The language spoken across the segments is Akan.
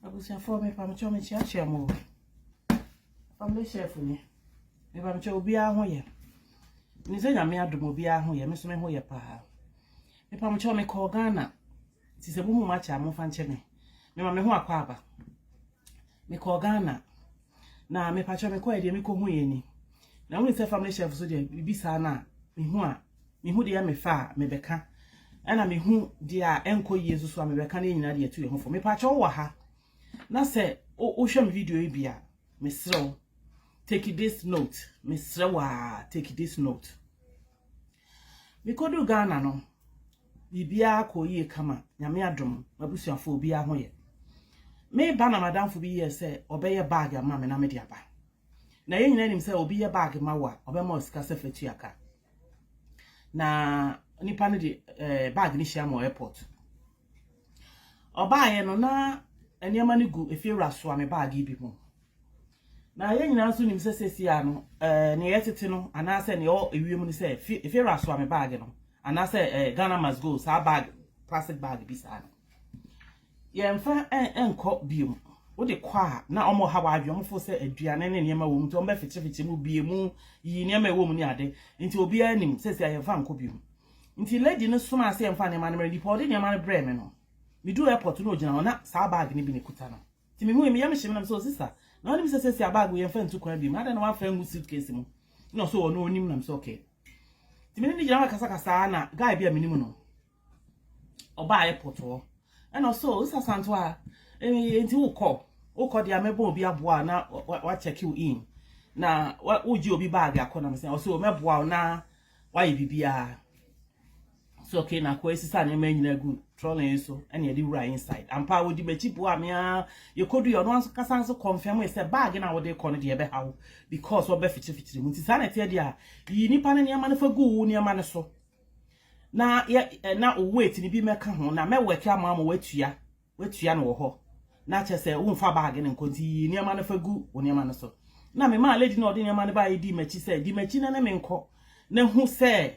Abusuafoɔ me pa mo kyɛw me kyia kyia mo Family chef ni Me pa mo kyɛw obiara ho yɛ Ni sɛ nyame adom obiara ho yɛ Me so me ho yɛ paa Me pa mo kyɛw me kɔɔ Ghana Ti sɛ mo mu ma kyɛ a mo fa nkyɛ me Me ma me ho akɔ aba Me kɔɔ Ghana Na mepakyɛw mekɔe deɛ mekohui ni. Na wonim sɛ family chef so deɛ biribi saa no a mehu a mehu deɛ mefa a mebɛka ɛna mehu deɛ a ɛnkɔ yie nso so a mebɛka ne nyinaa deɛ ɛtu yɛn ho fo. Mepakyɛw wowɔ ha na sɛ wohwɛ me video yi bi a mesrɛ wo take this note mesrɛ wo a take this note. Mekoduu Ghana no, biribiara kɔɔ yie kama. Nyame adom, m'abusuafoɔ obiara ho yɛ. Mereba na m'adamfo bi yɛɛ sɛ ɔbɛyɛ bag ama me na mede aba. Na yɛn nyinaa nim sɛ obi yɛ bag ma wo a, ɔbɛma wo sika sɛ fa tua ka. Na nipa no de eh, bag no hyia me wɔ airport. Ɔbaeɛ no, na nneɛma no gu efiewura soa me baage bi mu. Na yɛn nyinaa nso nim sɛ seesia no, eh, nea ɛyɛ tete no, anaasɛ nea ɛwɔ ewiem no sɛ efiewura soa me baage no, anaasɛ eh, Ghana must go, saa baage, plastic baage bi saa no. Yɛmfa nkɔ biom. Wode kɔ a, na wɔn ha wɔ adwene, wɔn fo sɛ aduane ne nneɛma wɔ mu, nti wɔn bɛfekyefekye mu, bie mu, yi nneɛma ɛwɔ mu ne ade. Nti obiara nim, seesia yɛmfa nkɔ biom. Nti lady no somaa sɛ yɛmfa nneɛma no mmra, nnipa a ɔde nneɛma no brɛɛ me no, meduu airport no na ɔgyina hɔ, na saa bag no bi na ɛkuta no. Nti mehui, me yam hyee me na mesɛ, oh sister, na wonim sɛ seesei a bag wei yɛmfa ntu kwan biom, adɛn na woamfa angu suitcase mu? Na ɔsɛ, oh ɔno ɔnim, na mesɛ okay. Nti me ne no gyina hɔ rekasakasaa na guy bi a menim no, ɔbaa airport hɔ, ɛna ɔsɛ, oh sister Santoa, eh, nti wokɔ, wokɔ deɛ mɛbɔ obi aboa na wa check you in, na wogye obi bag akɔ, na mesɛ, ɔsɛ, oh mɛboa wo na Wayɛ biribiara. So okay na kɔ esisa nneɛma nyinaa gu trolley yi so ɛna yɛde wura inside. Ampa wodi m'akyi boa me a yɛkɔdu yɛ ɔno ankasa nso confirm sɛ bag na wɔde kɔ no deɛ ɛbɛha wo because ɔbɛ fitirifikyiri mu nti saa na ɛteɛ deɛ a yi nipa ne nneɛma no fa gu wo nneɛma no so na yɛ na wo weight no bi mɛka ho na mɛwɛke ama ama watua Woatua no wɔ hɔ, na kyerɛ sɛ womfa baage no nkɔ nti yiyi nneɛma no fa gu wo nneɛma no so. Na memaa lady no a ɔde nneɛma no baeɛ dii m'akyi sɛ, Di m'akyi na ne me nkɔ, na hu sɛ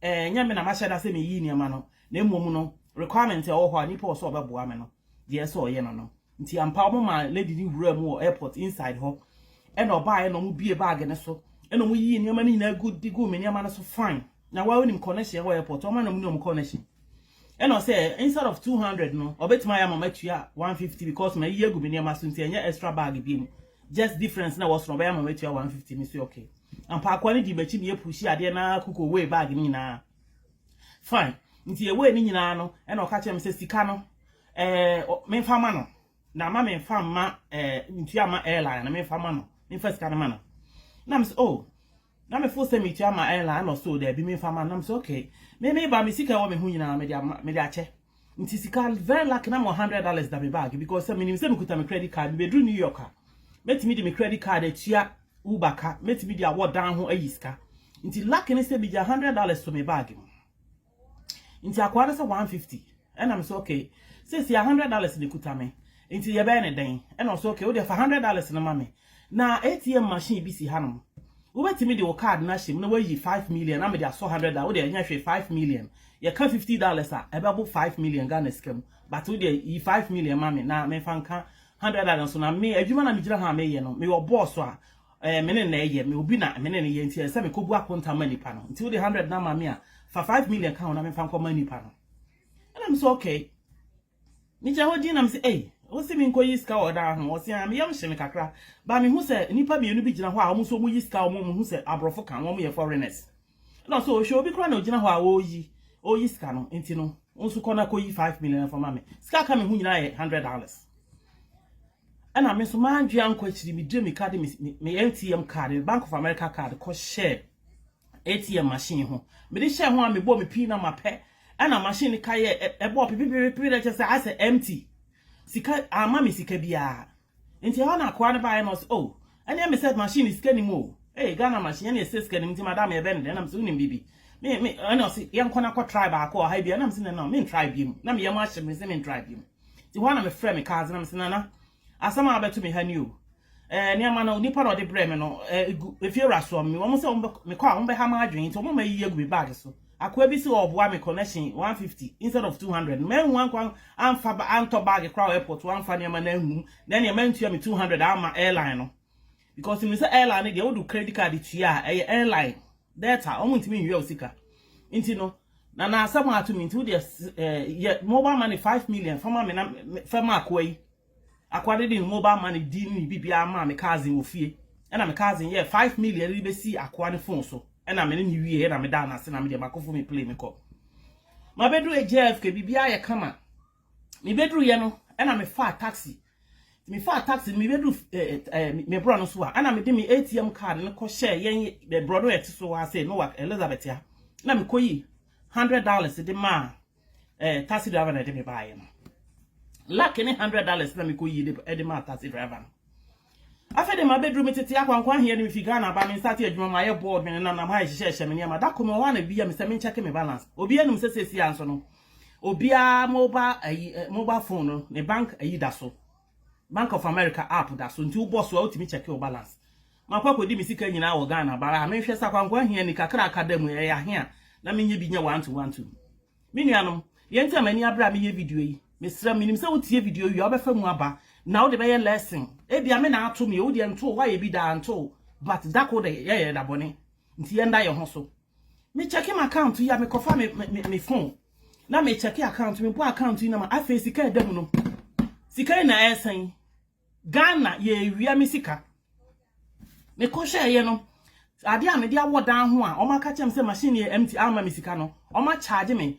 ɛnyɛ me na mahyɛ da sɛ meyiyi nneɛma no, na mmom no, requirement a ɛwɔ hɔ a nipa wɔ sɛ ɔbɛboa me no, deɛ ɛsɛ sɛ ɔyɛ no no. Nti ampa wɔmaa lady no wuraa mu wɔ airport inside hɔ, ɛna ɔbaeɛ na wɔbuee baage no so, ɛna wɔyiyii nneɛma no nyinaa gu de guu me nneɛma no so fine. Na woa wonim connection wɔ airport, wɔma na wɔne wɔn connection. Ɛna ɔsɛ instead of two hundred no ɔbɛtumi ayɛ ama matua one fifty because mayiyi agu me nneɛma so nti ɛnyɛ extra bag bio mu just difference na ɛwɔ so na ɔbɛyɛ ama matua one fifty mese ok ampa akoa no dii makyi na yɛpushi adeɛ na kuko wei bag no nyinaa fine nti yɛwei no nyinaa no ɛna ɔka kyerɛ me sɛ sika no ɛɛ memfa ma no na ama memfa mma ɛɛ ntua ma airline no memfa ma no memfa sika no ma no na mese oh Na me fo sɛ me tua ma airline ɛna ɔsoo daabi me nfa ma no na me sɛ okay me me ba me sika ɛwɔ me ho nyinaa me de ama me de akyɛ nti sika very lucky na me wɔ hundred dollars da me bag because sɛ me nim sɛ me kuta me credit card me bɛ duru New York a mɛ tumi de me credit card atua Uber ka mɛ tumi de awɔ dan ho ayi sika nti lucky ne sɛ me gya hundred dollars to me bag mu Nti akoa no se one fifty ɛna me se okay seisei a hundred dollars na ɛkuta me nti yɛbɛyɛ no dɛn ɛna ɔse okay wodeɛ fa hundred dollars no ma me na ATM machine bi si hanom wobɛtumi de wo card no ahyɛ mu na woayi five million na mede asɔ hundred dollars wodeɛ ɛnyɛ hwee five million yɛka fifty dollars a ɛbɛbo five million Ghana sika mu but wodeɛ yi five million ma me na memfa nka hundred dollars nso na me adwuma na megyina ha a meyɛ no meyɛ ɔboss a Ɛɛ me ne na ɛyɛ, me obi na me ne no yɛ nti ɛsɛ sɛ me kɔbu akonta ma nipa no, nti wode hundred no ama me a, fa five million ka ho na memfa nkɔma nipa no. Ɛna me sɛ okay. Me gyina hɔ din na me sɛ ei, wo se me nkɔ yi sika wɔ ɔdan ho? Ɔse aa, me yam hye me kakra, but me hu sɛ nipa mmienu bi gyina hɔ a wɔn nso wɔyi sika a wɔn ɔmo hu sɛ aborɔfo ka wɔn yɛ foreigners. Ɛna ɔse oo, hwɛ obi koraa na ogyina hɔ a ɔreyi, ɔreyi sika no, nti no wo nso kɔ na kɔyi five million no fa ma me. Sika a aka me ho nyinaa yɛ hundred dollars. Ɛna me nso m'adwe ankɔ akyiri me gye me ka de me ATM card me Bank of America card kɔ hyɛ ATM machine ho me de hyɛ ho a me bɔ me pin na ma pɛ ɛna machine ne ka yɛ ɛbɔ pepepepe na kyɛ sɛ asɛ empty sika ama me sika biara nti ɛhɔ na akoa no baeɛ na ɔsɛ oh ɛne me sɛ machine ne sika nim o ee Ghana machine ɛne ɛsɛ sika nim nti madam yɛbɛ ne dɛ ɛna me sɛ wonim bibi me me ɛna ɔsɛ yɛnkɔ na kɔ try baako ɔha bi ɛna me sɛ na na me try bi mu na me yɛ mo ahyɛ me sɛ me try bi mu Nti hɔ ara na mefrɛɛ me cousin na mese, Nana, asɛm a abɛto me ha ni o. Ɛɛ, nneɛma no, onipa na ɔde brɛɛ me no, ɛɛ, egu efiewurasoɔ me. Wɔn sɛ wɔbɛ, mekɔ a wɔbɛha m'adwene, nti wɔn ama ayiyi agu me bag so. Akoa bi se ɔreboa me connection 150 instead of 200. Manhu ankɔ an, amfa, antɔ bag koraa wɔ airport hɔ amfa nneɛma no angu mu, na ɛnneɛ mantua me 200 amma airline no. Because menim sɛ airline no deɛ, wode wo credit card tua a, ɛyɛ airline. Debt a wɔn ntumi nwia wo sika nti no na na asɛm a ato me nti wo deɛ eh, yɛ mobile money five million fa ma me na fɛ ma akoa yi akoa de de ne mobile money di ne biribiara maa me cousin wɔ fie ɛna me cousin yɛ five million de bɛsi akoa ne phone so ɛna me ne ne wie ɛna me da no ase na me deɛ makɔfo me play me kɔ mabɛdu JFK biribiara yɛ kama Mebɛduruiɛ no, ɛna mefaa taxi. Mefaa taxi no, mebɛduru me borɔ no so a, ɛna mede me ATM card no kɔ hyɛɛ yɛn borɔ no a ɛte so ase, Newark, Elizabeth a, na mekɔyi hundred dollars de maa eh, taxi driver na ɛde me baeɛ no. Luck ne hundred dollars na mekɔyi de de maa taxi driver no. Afei de mabɛduru me tete akwankwa aheɛ de mefi Ghana ba me nsate adwuma mayɛ board me nenanam ha ɛhyehyɛhyɛ me nneɛma da kɔ me hɔ a na bia me sɛ menkyɛke me balance obiara nim sɛ sɛsi a nso no Obiara mobile ayi eh, mobile phone no, ne bank ayi da so. Bank of America app da so. Nti wobɔ so a wotumi check wo balance. Makɔ akɔdi me sika nyinaa wɔ Ghana bara a menhwɛ sɛ akwankwa ahia ni kakra aka da mu ɛyɛ ahia na menyɛ bi nyɛ one to one two. Me nuanom, deɛ nti a m'ani abere a meyɛ video yi, mesrɛ menim sɛ wotie video wie a wobɛfa mu aba na wode bɛyɛ lesson. Ebia me na ato me, wo deɛ nto, woayɛ bi daa nto, but da ko de yɛyɛ da bɔne. Nti yɛnda yɛn ho so. Me check me account yi a me kɔfa me me me phone na me check account me bɔ account yi na ma afei sika ɛda mu no sika yi na ɛsɛn Ghana yɛ ewia me sika me kɔhwɛ ɛyɛ no ade a me de awɔ dan ho a wɔn aka kyɛm sɛ machine yɛ empty ama me sika no wɔn a charge me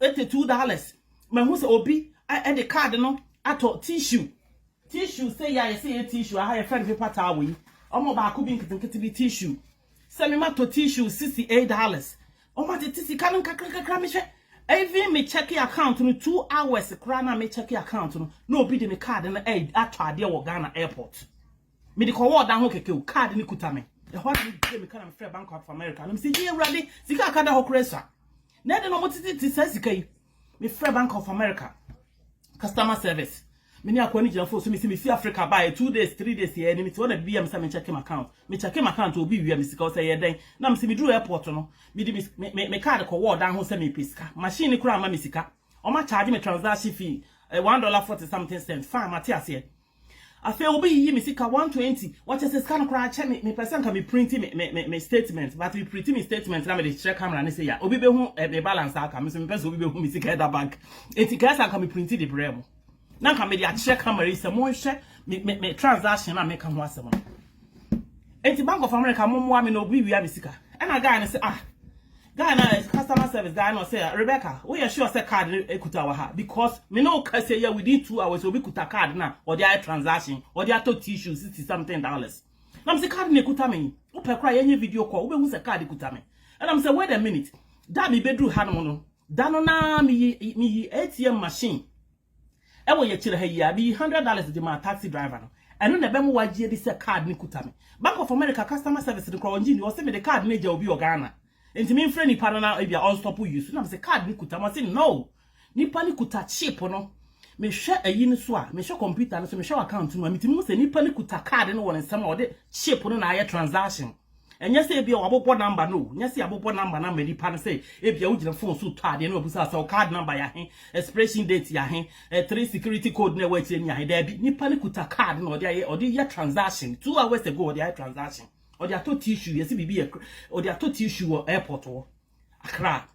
Eighty two dollars mahu sɛ obi de card no atɔ tissue tissue sei a yɛsɛ yɛ tissue aha yɛfrɛ no paper towel yi ɔmo baako bi nketenkete bi tissue sɛ me matɔ tissue sixty eight dollars ɔmo atete sika no nkakrankakra mehwɛ even me check account no two hours koraa na me check account no na obi de me card no atɔ adeɛ wɔ Ghana airport. Mede kɔ ward ahorow kɛkɛ o, card no kuta me. Ɛhɔ ara na mibuee me ka na mefrɛɛ Bank of America na mise, Yie Awurade, sika a aka da hɔ koraa asua. Na ɛdɛn na wɔtetete saa sika yi? Mefrɛɛ Bank of America customer service. Me ne akoa no gyina fon so, mise, Mifi Africa baeɛ, two days, three days yɛɛ ni, mete hɔ na biribi yɛ me sɛ menkyɛke m'account. Mekyɛke m'account a, obi wia me sika. Ɔse, Ɛyɛ dɛn? Na mise, Meduru airport no, mede me me me card kɔ ward ahorow sɛ merepɛ sika. Machine no koraa amma me sika. Wɔacharge me transaction fee, one dollar forty something cents. Fine, mate aseɛ. Afei obi yiyi me sika one twenty wɔkyɛ sɛ sika no koraa kyɛ me mepɛ sɛ nka me printi me me me me statement but me printi me statement na me de kyerɛ camera no sei a obi bɛ hu eh, me balance a aka me nso mepɛ sɛ obi bɛ hu me sika ɛda bank enti kɛɛ sɛ anka me printi de brɛ mo na anka me de akyerɛ camera yi sɛ monhwɛ me me me transaction a meka ho asɛm no. Enti bank of America mo moa me na obi wia me sika ɛna guy no se ah guy no a customer service guy no ɔse Rebecca wo yɛ sure sɛ card no ekuta wɔ ha because me ne wo kasa yi a within two hours obi kuta card no a ɔde ayɛ transaction ɔde atɔ tissue sixty something dollars na me se card no ekuta me yi wo pɛ koraa yɛnyɛ video call wo bɛ hu sɛ card kuta me ɛna me sɛ wait a minute da me bɛ duru ha nom no da no naa me yi me yi ATM machine Ɛwɔ yɛ kyerɛ ha yi a, meyii hundred dollars de maa taxi driver no. Ɛno na ɛbɛma wagye adi sɛ card no kuta me. Bank of America customer service no koraa, ɔngye nni. Ɔse mede card no agya obi wɔ Ghana, nti memfrɛ nipa no na ebia ɔnstop use. Ɛna mese card no kuta me, ɔse no, nipa no kuta chip no. Mehwɛ ayi no so a, mehwɛ computer no so, mehwɛ w'account no mu a, metumi hu sɛ nipa no kuta card no wɔ ne nsam a ɔde chip no na ayɛ transaction. Ɛnyɛ sɛ ebia wɔabobɔ number no o, nyɛ sɛ yɛabobɔ number no ama nipa no sɛ ebia wogyina phone so tɔ adeɛ na wɔabisa sɛ wo card number yɛ ahe, expiration date yɛ ahe, eh, three security code na ɛwɔ akyire no yɛ ahe. Daabi, nipa no kuta card na ɔde ayɛ ɔde yɛ transaction. Two hours ago ɔde ayɛ transaction. Ɔde atɔ tissue, yɛsi biribi yɛ ɔde atɔ tissue wɔ airport hɔ, Accra.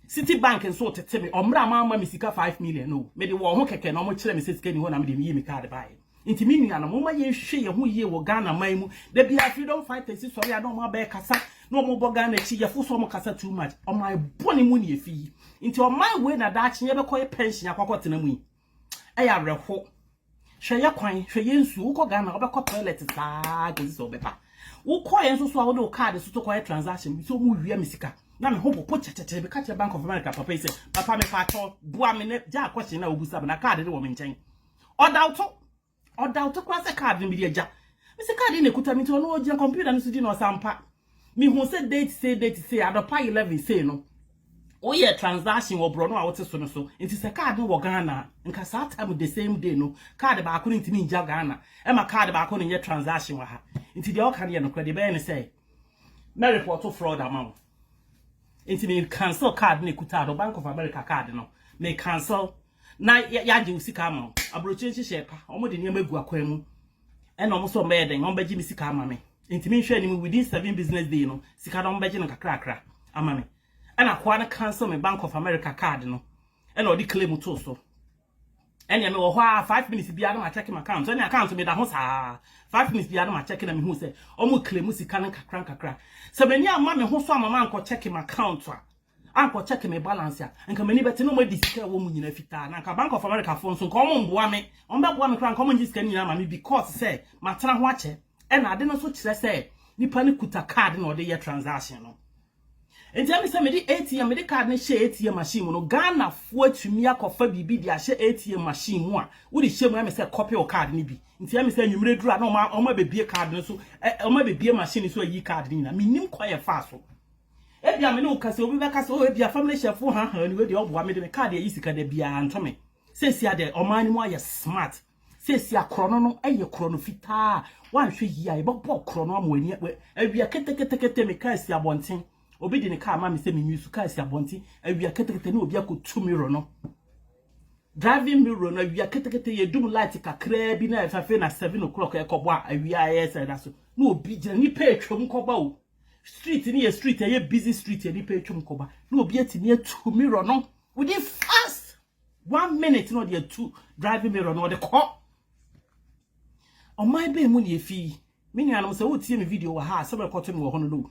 City bank nso retete me ɔmmerɛ a mamma me sika five million no o. Mede wɔn ho kɛkɛ na wɔkyerɛ me sɛ sika nni hɔ na mede meyii me card baeɛ. Nti me nuanom, momma yɛnhwehwɛ yɛn ho yie wɔ Ghana man mu. Da biara freedom fighters sɔre a na wɔn abɛɛkasa na wɔn rebɔ Ghana akyi. Yɛfo sɛ wɔn kasa too much. Ɔman bɔne mu na yɛfiri. Nti ɔman wei na daakye yɛbɛkɔyɛ pension akɔ akɔtena mu yi? Ɛyɛ awerɛho. Hwɛ yɛ kwan, hwɛ yɛ nsuo. Wokɔ Ghana wobɛkɔ toilet saa kɔsi sɛ wobɛpa. Wokɔeɛ nso so a wode wo card so to kɔyɛ transaction bi sɛ wɔwia me sika. Na me ho popo kyɛkyɛkyɛ meka kyerɛ Bank of America papa yi sɛ papa mepa akyɛw boa me na gyaa kɔhyee no a wobisa me na card no wɔ me nkyɛn. Ɔda wo to. Ɔdoubt koraa sɛ card no bi de agya. Me sɛ card yi na ɛkuta me nti ɔno ɔgyina computer no so di na ɔsɛ ampa. Me hu sɛ date sei date sei anɔpa 11 sei no wo yɛ transaction wɔ borɔno a wo te so no so nti sɛ card no wɔ Ghana a nka saa time the same day no card baako no ntumi ngya Ghana ɛma card baako no nyɛ transaction wɔ ha nti deɛ ɔka no yɛ nokorɛ deɛ ɛbɛyɛ ne sɛ mɛ report fraud ama wo nti me cancel card no ɛkuta no Bank of America card no me cancel Na yɛagye wo sika ama wo. Aburokyire nhyehyɛɛ pa. Wɔn de nneɛma gu akwan mu. Ɛna wɔn nso wɔbɛyɛ dɛn? Wɔn bɛgye me sika ama me. Nti me nhwɛ anim within seven business day no sika no wɔn bɛgye no kakrakra ama me. Ɛna akoa no cancel me Bank of America card no. Ɛna ɔde claim too so. Ɛna me wɔ hɔ a five minutes biara na ma check my account. Ɛna account so me da ho saa. Five minutes biara na ma check na me hu sɛ wɔn claim sika no nkakra nkakra. Sɛ m'ani amma me ho so ama ma nkɔ check my account a ankɔ check me balance a nka m'ani bɛte na ɔmo adi sika ɛwɔ mu nyinaa fitaa na nka Bank of America foɔ nso nka ɔmo mboa me ɔmo bɛboa me koraa nka ɔmo ngye sika no nyinaa ma me because sɛ matena ho akyɛ ɛna ade no nso kyerɛ sɛ nipa no kuta card na ɔde yɛ transaction no nti ɛmi sɛ mede ATM mede card no hyɛ ATM machine mu no Ghana foɔ atumi akɔfa biribi de ahyɛ ATM machine mu a wode hyɛ mu ɛmi sɛ copy o card no bi nti ɛmi sɛ nwumire duru a na ɔmo ɔmo abɛbie card no so ɔmo abɛbie machine no so ayi card no nyinaa menim kwan yɛ faa so Ebia me ne wo kasa yi, obi bɛka sɛ, oh, ebia family hyɛfo haahaa ni, wei deɛ ɔboa me de me kaa deɛ yi sika da biara nto me. Seesei a deɛ ɔman no mu ayɛ smart. Seesei a korɔno no yɛ korɔno fitaa a woanhwɛ yie a yɛbɛbɔ korɔno ama w'ani awia keteketekete. Mekaa asi abɔnten, obi de ne kaa ma me sɛ menwi so, kaa si abɔnten awia ketekete na obi akɔtu mirror no, driving mirror no awia ketekete, yɛdum light kakraa bi na afei na seven o'clock ɛkɔbɔ a awia ayɛ sɛ ɛda so na obi gyina, nnipa atwam kɔba o. Street no yɛ street ɛyɛ busy street a nipa atwam kɔba na obi atumi atu mirror no within fast one minute na ɔde atu driving mirror no ɔde kɔ ɔman bɛn mu na efi me nuanom sɛ wotie me video wɔ ha a sɛbɛn kɔto me wɔ hɔ no no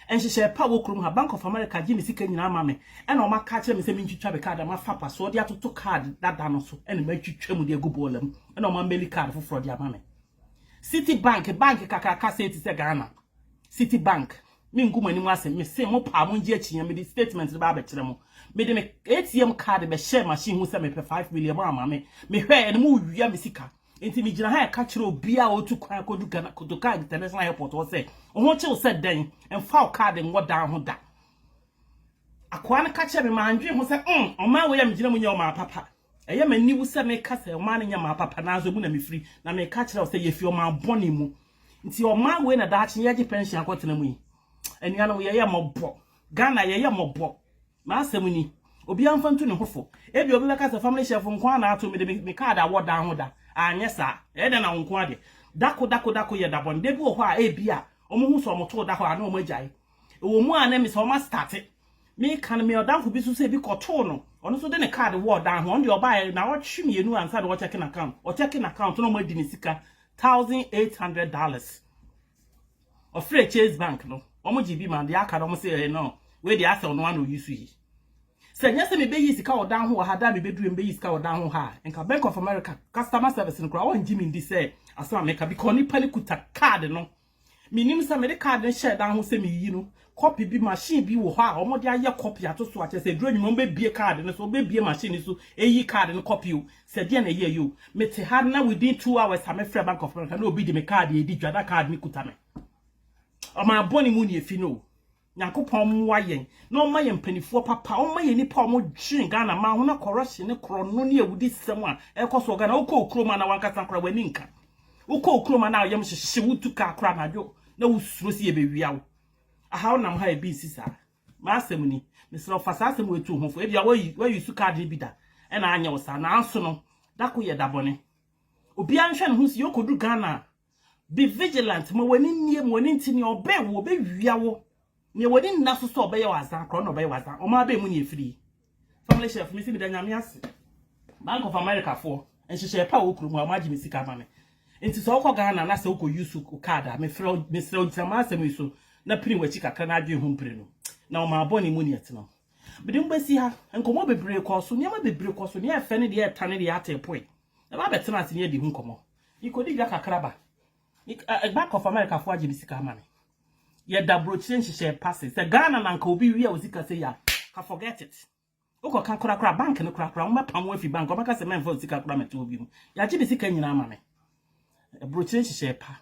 nhyehyɛ pa wɔ kurom ha bank of america gye me sika nyinaa ma me ɛna ɔma ka kyerɛ me sɛ mentwitwa me card ama fapa so ɔde atoto card dada no so ɛna matwitwa mu de agu bɔɔla mu ɛna ɔma meli card foforɔ de ama me City bank bank kakraka sei te sɛ Ghana city bank me ngu mo anim ase me se mo paa mo ngye akyinya me de statement no ba abɛkyerɛ mo me de me ATM card bɛ hyɛ machine ho sɛ me pɛ 5 million mo ama me me hwɛ ɛne mo wia me sika nti me gyina ha ɛka kyerɛ obi a otu kwan kodu Ghana kodu ka international airport hɔ sɛ ho kyew sɛ dɛn mfa o card ngɔ dan ho da akoa no ka kyerɛ me ma andwe ho sɛ mm ɔmaa wei a me gyina mu nyɛ ɔmaa papa Ɛyɛ me aniwu sɛ meka sɛ ɔman no nyɛ ɔman papa, nanso emu na mifiri, na meka akyerɛ wo sɛ yefi ɔman bɔne mu. Nti ɔman wei na daakye yɛregye pɛnhyen akɔtena mu yi? Anuanom, yɛyɛ mmɔbɔ. Ghana, yɛyɛ mmɔbɔ. M'asɛm ni. Obiara mfa ntu ne ho fo. Ebia obi bɛka sɛ, Family Chef, wo nko ara na ato me de, me me kaad awɔ dan ho da. Anyɛ saa. Ɛyɛ dɛn na wo nko ara deɛ? Da ko, da ko, da ko yɛ da bɔne. Da bi wɔ hɔ a, ebia wɔhu sɛ wɔtoo da hɔ a, na wɔagyae. Ɛwɔ mu a na ɛmi sɛ wɔastate. Meka no me ɔdanfo bi nso sɛ ebi kɔtoo no, ɔno nso de ne card wɔ ɔdan ho, ɔno deɛ ɔbaeɛ nnawɔtwe mmienu ansa na wɔkyɛke n'account, wɔkyɛke n'account na wɔadi ne sika thousand eight hundred dollars. Ɔfrɛɛ Chase Bank no, wɔgye bi ma deɛ aka no wɔn sɛ ɛɛ no, wei deɛ asɛ ɔno ara na oyi so yi. Sɛ nyɛ sɛ mebɛyi sika wɔ dan ho wɔ ha da a mebɛduru mebɛyi sika wɔ dan ho ha a, nka Bank of America customer service no koraa wɔngye me ndi sɛ asɛm a meka because nipa no kuta card no Menim sɛ mede kaad no hyɛɛ dan ho sɛ meyi no, kɔpe bi, machine bi wɔ hɔ a wɔde ayɛ kɔpe ato so a, kyerɛ sɛ ɛduru anwummerɛ a wɔbɛbue kaad no so, wɔbɛbue machine no so ayi kaad no kɔpe o, sɛdeɛ na ɛyɛeɛ o. Mete ha no na within two hours a mefrɛɛ Bank of America na obi de me kaad redi dwa na kaad no kuta me. Ɔman bɔne mu na ɛfi no o. Nyankopɔn mmoa yɛn na ɔmma yɛn mpaninfoɔ papa, ɔmma yɛn nipa a ɔmo dwen Ghana man ho na corruption ne korɔno ne awudi sɛm a ɛkɔ so wɔ Ghana, wokɔ okurom a na wankasa koraa w'ani nka, wokɔ okurom a na woyam hyehye, wotu car koraa anadwo na wosuro sɛ yɛbɛwia wo, aha wonam ha a ebi nsi saa, m'asɛm ni, mesrɛ wo fa saa asɛm wei to wo ho fo, ebia woayi, woayusu card no bi da ɛna anyɛ wo saa, nanso no, da ko yɛ da bɔne, obiara nhwɛ ne ho nsi, yɛkɔduru Ghana a, Be vigilant, ma w'ani mmie, ma w'ani nte nea ɔbɛn wo, ɔbɛwia wo. Nea w'ani nna so sɛ ɔbɛyɛ wo azan koraa, ɔno na ɔbɛyɛ wo azan. Wɔn ara bɛn mu na ɛfiri. Family Chef, me se meda Nyame ase. Bank of America foɔ, nhyehyɛɛ pa a ɛwɔ kurom ha, wɔn agye me sika ama me. Nti sɛ wokɔ Ghana na sɛ wokɔ use wo card a, mefrɛ wo, mesrɛ wo gyina m'asɛm yi so na pini w'akyi kakra na adwene ho mprenu. Na wɔn ara bɔne mu na ɛtena. Mede mo bɛsi ha, nkɔmmɔ bebree kɔɔ so, nneɛma bebree kɔɔ so, deɛ ɛfɛ ne deɛ ɛta ne deɛ ate poe. Ɛba bɛtena ase ne adi ho nkɔmmɔ. Ikodi dwa kakra ba. Ik, a, Ɛba kɔfa Amerikafo agye me sika ama me. Yɛda brokyire nhyehyɛe pa ase. Sɛ Ghana na anka obi wia wo sika sei a, ka forget it. Wokɔka korakora bank no korakora, wɔbɛpam wo afi bank, wɔbɛka sɛ mɛmfa wo sika koraa mɛto hɔ bio. Yɛagye me sika nyinaa ama me. Brokyire nhyehyɛe pa.